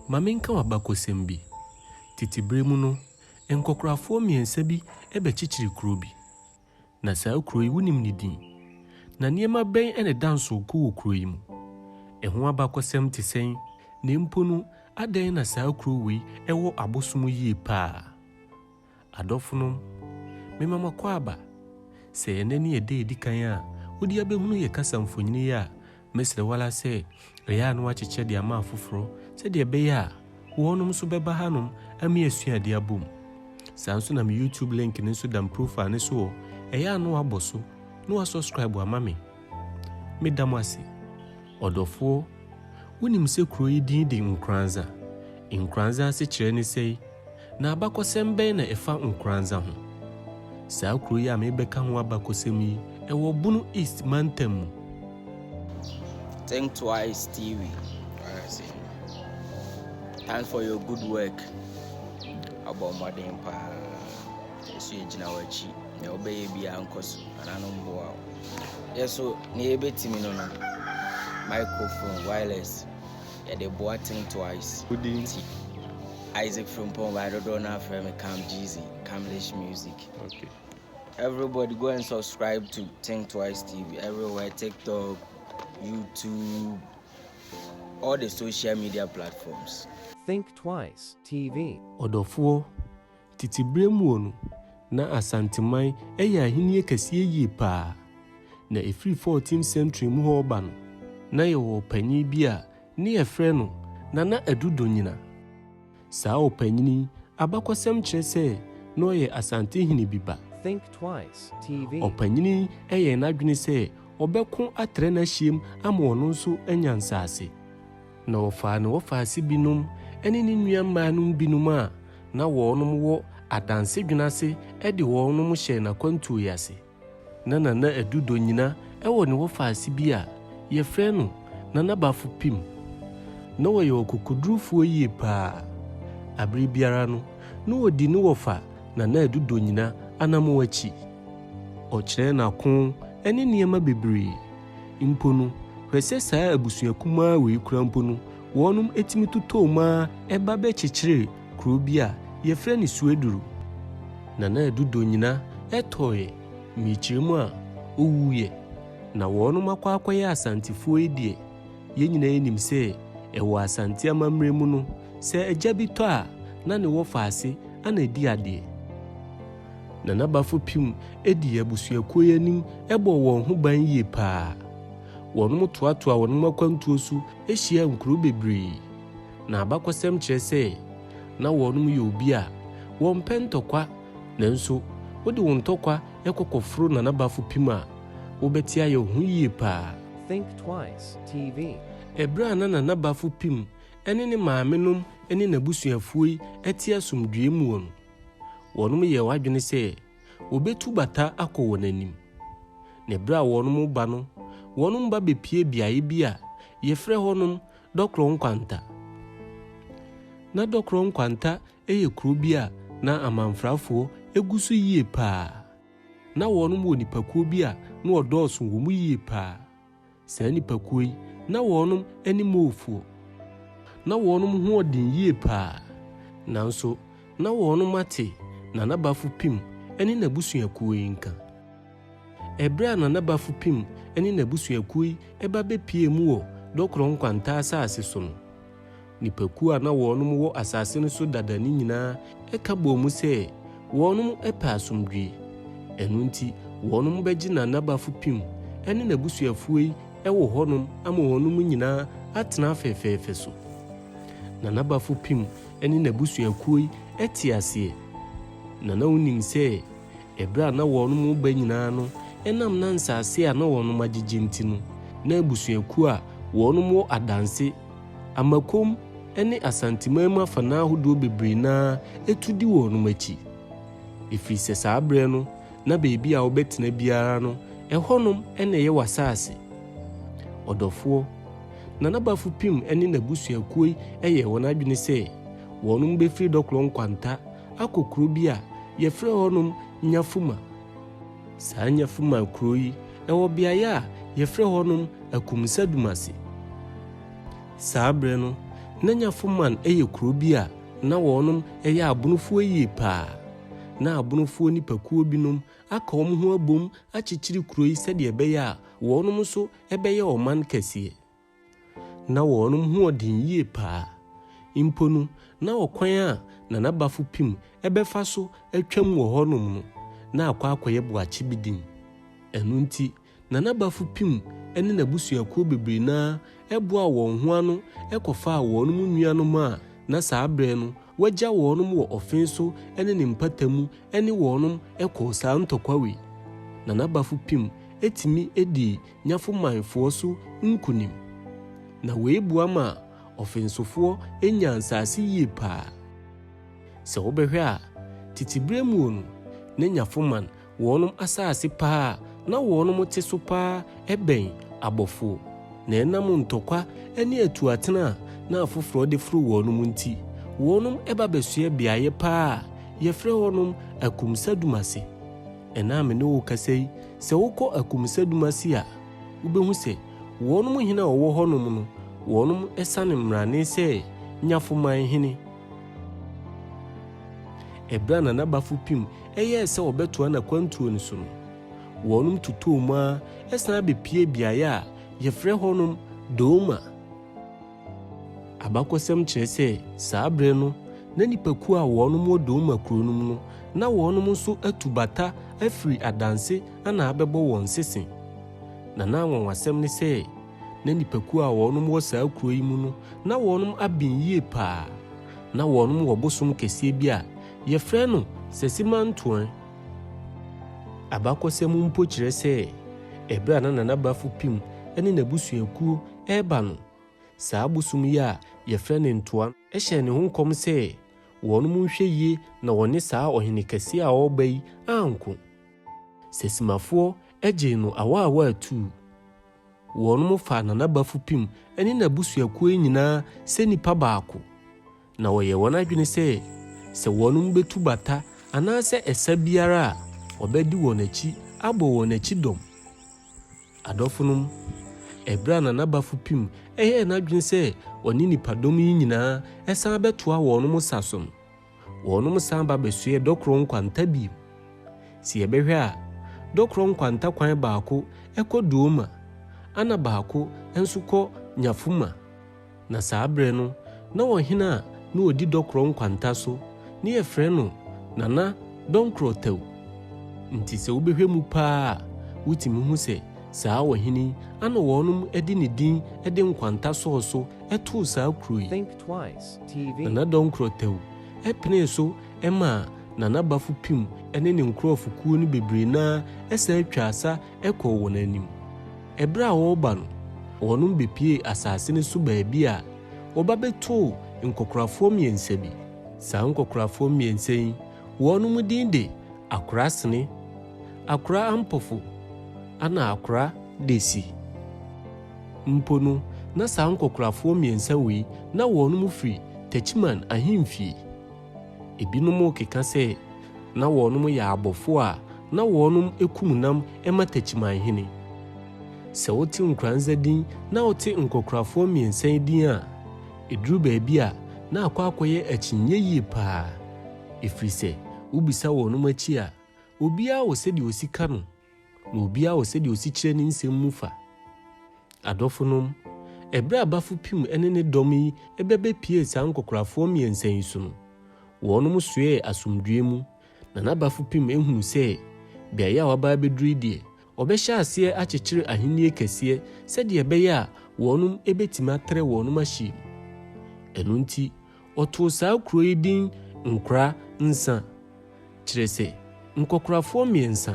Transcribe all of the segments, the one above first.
Ma menka wo abakɔsɛm bi. Tete berɛ mu no, nkɔkorafoɔ mmiɛnsa bi bɛkyekyeree kuro bi. Na saa kuro yi, wonim ne din? Na nneɛma bɛn na ɛda nsow ko wɔ kuro yi mu? Ɛho abakɔsɛm te sɛn? Na mpo no, adɛn na saa kuro wei wɔ abosom yie paa? Adɔfonom, mema mo akwaaba. Sɛ ɛnnɛ ne ɛda a ɛdi kan a wode abɛhunu yɛn kasa mfonini yi a, mɛsrɛ wo ara sɛ yɛ ano akyekyɛ de ama afoforɔ sɛdeɛ ɛbɛyɛ a wɔnom nso bɛba hanom ama yɛasua adeɛ abɔ mu. Saa nso na me YouTube link no nso da me profile no so hɔ, yɛ ano abɔ so na wasubscribe ama me. Meda mo ase. Ɔdɔfoɔ, wonim sɛ kuro yi din de Nkoranza. Nkoranza asekyerɛ ne sɛi, na abakɔsɛm bɛn na ɛfa Nkoranza ho? Saa kuro yi a merebɛka ho abakɔsɛm yi, ɛwɔ Bono East mantam mu. Think Twice TV. Thanks for your good work. Abɔ mmɔden paa. Yesu egyina w'akyi. Nea wobɛyɛ biara nkɔ so. Ana no mboa wo. Yɛ so nea yɛbɛtumi no no. Microphone wireless yɛde boa think twice. Wodi nti. Isaac Frimpong by dodoɔ no afrɛ me Cam Jeezy, Camlish Music. Okay. Everybody go and subscribe to Think Twice TV everywhere TikTok, YouTube, all the social media platforms. Think Twice TV. Ɔdɔfoɔ, Tete berɛ muo no, na Asanteman yɛ ahennie kɛseɛ yie paa. Na ɛfiri 14th century mu hɔ reba no, na yɛwɔ ɔpanin bi a ne yɛfrɛ no Nana Adu Donyina. Saa ɔpanin yi abakɔsɛm kyerɛ sɛ na ɔyɛ Asantehene bi ba. Think Twice TV. Ɔpanin yi yɛɛ n'adwene sɛ ɔbɛko atrɛ n'ahyeɛm ama ɔno nso anya nsaase. Na wɔfaa ne wɔfaase binom ne ne nua mmaanom binom a na wɔnom wɔ adanse dwene ase de wɔnom hyɛɛ n'akwantuo yi ase. Na Nana Adu Donyina wɔ ne wɔfaase bi a yɛfrɛ no Nana Bafo Pim. Na ɔyɛ ɔkokodurufoɔ yie paa. Abere biara no na ɔdi ne wɔfa Nana Adu Donyina anamɔn akyi. Ɔkyerɛɛ n'ako ne nneɛma bebree. Mpo no, hwɛ sɛ saa abusua kumaa wei koraa mpo no, wɔnom tumi totɔɔ mu ara ɛba bɛkyekyeree kuro bi a yɛfrɛ no Sueduru. Nana Adu Dɔ nyina tɔɔeɛ, mmekyerɛ mu a, ɔwuuiɛ. Na wɔnom akɔ akɔyɛ Asantefoɔ yi deɛ, yɛn nyina ara nim sɛ ɛwɔ Asante amammerɛ mu no, sɛ agya bi tɔ a, na ne wɔfa ase na ɛdi adeɛ. na n'abafo pim dii abusuakuo yi anim bɔɔ wɔn ho ban yie paa. Wɔnom toatoaa wɔnom akwantuo so hyiaa nkuro bebree. Na abakɔsɛm kyerɛ sɛ na wɔnom yɛ obi a wɔmpɛ ntɔkwa nanso wode wo ntɔkwa kɔ kɔforo na n'abafo pim a, wobɛte ayɛ wo ho yie paa. Think Twice TV. Ɛberɛ a na na n'abafo pim ne ne maamenom ne n'abusuafuo yi te asomdwoeɛ mu wɔ no, Wɔnom yɛɛ w'adwene sɛ wɔ'betu bata akɔ wɔn anim. Na ɛberɛ a wɔnom reba no, wɔnom ba bepue beaeɛ bi a yɛfrɛ hɔnom Dɔkorɔ Nkwanta. Na Dɔkorɔ Nkwanta yɛ kuro bi a na amanfrafoɔ gu so yie paa. Na wɔnom wɔ nnipakuo bi a na wɔdɔɔso wɔ mu yie paa. Saa nnipakuo yi, na wɔnom ne Moorfoɔ. Na wɔnom ho wɔ den yie paa. Nanso, na wɔnom ate Nana Bafo Pim ne n'abusuakuo yi nka. Ɛberɛ a Nana Bafo Pim ne n'abusuakuo yi ba bɛpuee mu wɔ Dɔkorɔ Nkwanta asaase so no, Nnipakuo a na wɔnom wɔ asase no so dada no nyinaa ka bɔɔ mu sɛ wɔnom pɛ asomdwie. Ɛno nti wɔnom bɛgye na nabafo pim ne nabusuafuo yi wɔ hɔnom ama wɔnom nyinaa atena fɛfɛɛfɛ so. Na nabafo pim ne nabusuakuo yi te aseɛ. Na na wonim sɛ ɛberɛ a na wɔnom reba nyinaa no ɛnam na nsase a na wɔnom agyegye nti no na abusuakuo a wɔnom wɔ adanse Amakom ne Asanteman mu afanaa ahodoɔ bebree no ara tu di wɔnom akyi, ɛfiri sɛ saa berɛ no na baabi a wobɛtena biara no ɛhɔnom na ɛyɛ w'asaase. Ɔdɔfoɔ, Nana Bafo Pim ne n'abusuakuo yi yɛɛ wɔn adwene sɛ wɔnom bɛfiri Dɔkorɔ Nkwanta akɔ kuro bi a yɛfrɛ hɔnom Nyafuma. Saa Nyafuman kuro yi wɔ beaeɛ a yɛfrɛ hɔnom Akumsadumase. Saa berɛ no, na Nyafuman yɛ kuro bi a na wɔnom yɛ abonofoɔ yie paa. Na abonofoɔ nipakuo binom aka wɔn ho abom akyekyere kuro yi sɛdeɛ ɛbɛyɛ a wɔnom nso bɛyɛ ɔman kɛseɛ. Ná wɔnom ho ɔden yie paa. Mpo no, na ɔkwan a Nana Bafo-Pim bɛfa so atwam wɔ hɔnom no, na akɔ akɔyɛ boakye bi den. Ɛno nti, Nana Bafo-Pim ne n'abusuakuo bebree no ara boaa wɔn ho ano kɔfaa wɔnom nuanom a na saa berɛ no wɔagya wɔnom wɔ ɔfee so ne ne mpata mu ne wɔnom kɔɔ saa ntɔkwa wei. Nana Bafo-Pim tumi dii nyafo manfoɔ so nkunim, na wei boa ma ɔfensofoɔ nya nsaase yie paa. Sɛ wobɛhwɛ a, tete berɛ muo no, na nyafo man wɔnom asaase paa a na wɔnom te so paa bɛn abɔfoɔ, na ɛnam ntɔkwa ne atuatena a na afoforɔ de foro wɔnom nti, wɔnom ba bɛsoɛ beaeɛ paa a yɛfrɛ hɔnom Akumsadum ase. Ɛnnɛ a me ne wo rekasa yi, sɛ wokɔ Akumusɛdum ase a, wubehu sɛ wɔnom hene a wɔwɔ hɔnom no, wɔnom sane mmrane sɛ Nyafoman hene. Ɛberɛ a Nana Bafupim yɛɛ sɛ ɔbɛtoa n'akwantuo no so no, wɔnom totɔɔ mu ara sane bɛpuee beaeɛ a yɛfrɛ hɔnom Dooma. Abakɔsɛm kyerɛ sɛ saa berɛ no na nnipakuo a wɔnom wɔ Douma kuro no mu no na wɔnom nso atu bata afiri adanse na abɛbɔ wɔn sese. Na na anwanwasɛm ne sɛ na nnipakuo a wɔnom wɔ saa kuro yi mu no na wɔnom aben yie paa. Na wɔnom wɔ bosom kɛseɛ bi a yɛfrɛ no Sesimantuan. Abakɔsɛm mpo kyerɛ sɛ ɛberɛ a na Nana Bafo Pim ne n'abusuakuo Ɛreba no, saa bosom yi a wɔfrɛ no ntoa no hyɛɛ ne ho nkɔm sɛ, Wɔnom nhwɛ yie na wɔne saa ɔhene kɛseɛ a ɔreba yi anko. Sɛ Simafoɔ gyee no awaawaa atuu. Wɔnom faa Nana Bafupim ne n'abusuakuo yi nyinaa sɛ nnipa baako, Na wɔyɛ wɔn adwene sɛ, sɛ wɔnom betu bata anaasɛ ɛsa biara a, wɔbɛdi wɔn akyi abɔ wɔn akyi dɔm. Adɔfonom, ɛberɛ a Nana Bafupim yɛɛ n'adwene sɛ ɔne nnipadɔm yi nyinaa san bɛtoa wɔnom sa so no, wɔnom san ba bɛsoɛɛ Dɔkorɔ Nkwanta bio. Sɛ yɛbɛhwɛ a, Dɔkorɔ Nkwanta kwan baako kɔ Dooma, ɛna baako nso kɔ Nyafuma. Na saa berɛ no, na ɔhene a na ɔdi dɔkorɔ nkwanta so no yɛfrɛ no Nana Dɔnkorɔ Tau. Nti sɛ wobɛhwɛ mu paa a, wotumi hu sɛ saa ɔhene yi ana wɔnom de ne din de nkwanta sɔɔ so too saa kuro yi. Think Twice TV. Nana Dɔnkorɔ Tau penee so maa Nana Bafo Pim ne ne nkorɔfokuo no bebree no ara san twaa sa kɔɔ wɔn anim. Bere a wɔreba no, wɔnom bepuee asase no so baabi a wɔba bɛtoo nkɔkorafoɔ mmiɛnsa bi. Saa nkɔkorafoɔ mmiɛnsa yi, wɔnom din de Akora Sene, Akora Ampofo, ana Akora Desi. Mpo no, na saa nkɔkorafoɔ mmiɛnsa wei na wɔnom firi Techiman ahemfie. Ebinom keka sɛ na wɔnom yɛ abɔfo a na wɔnom kum nam ma Techiman hene. Sɛ wote Nkoranza din na wote Nkokorafoɔ mmiɛnsa yi din a, eduru baabi a na akɔ akɔyɛ akyinnye yie paa. Ɛfiri sɛ wobisa wɔnom akyi a, obiara wɔ sɛdeɛ ɔsi ka no. na obiara wɔ sɛdeɛ ɔsi kyerɛ ne nsɛm mu fa. Adɔfonom, ɛberɛ a Bafo Pim ne ne dɔm yi bɛbɛpuee saa nkɔkorafoɔ mmiɛnsa yi so no, wɔnom soɛɛ asomdwoeɛ mu, na na Bafo Pim hunu sɛ beaeɛ a wɔaba abɛduru yi deɛ, wɔbɛhyɛ aseɛ akyekyere ahennie kɛseɛ sɛdeɛ ɛbɛyɛ a wɔnom bɛtumi atrɛ wɔnom ahyia mu. Ɛno nti, Wɔtoo saa kuro yi din Nkora Nsa, kyerɛ sɛ, Nkɔkorafoɔ Mmiɛnsa.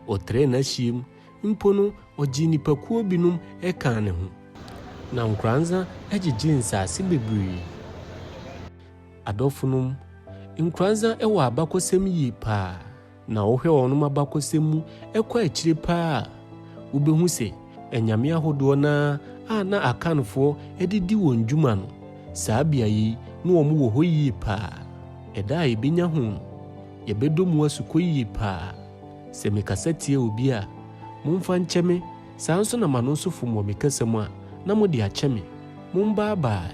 Wɔ Trɛ n'ahyiam mpo no ɔgyee nnipakuo binom kaa ne ho. Na Nkoransa gyegyee nsaase bebree. Adɔfonom, Nkoransa wɔ abakɔsɛm yie paa. Na wohwɛ wɔnom abakɔsɛm mu kɔ akyire paa a, wobɛhu sɛ anyame ahodoɔ no ara a na Akanfoɔ de di wɔn dwuma no, saa beaeɛ yi ne wɔn wɔ hɔ yie paa. Ɛda a yɛbɛnya ho no, yɛbɛdɔ mu asukɔ yie paa. Sɛ me kasa tia obi a, momfa nkyɛ me, saa nso na m'ano nso fom wɔ me kasa mu a, na mode akyɛ me. Mombaa baae.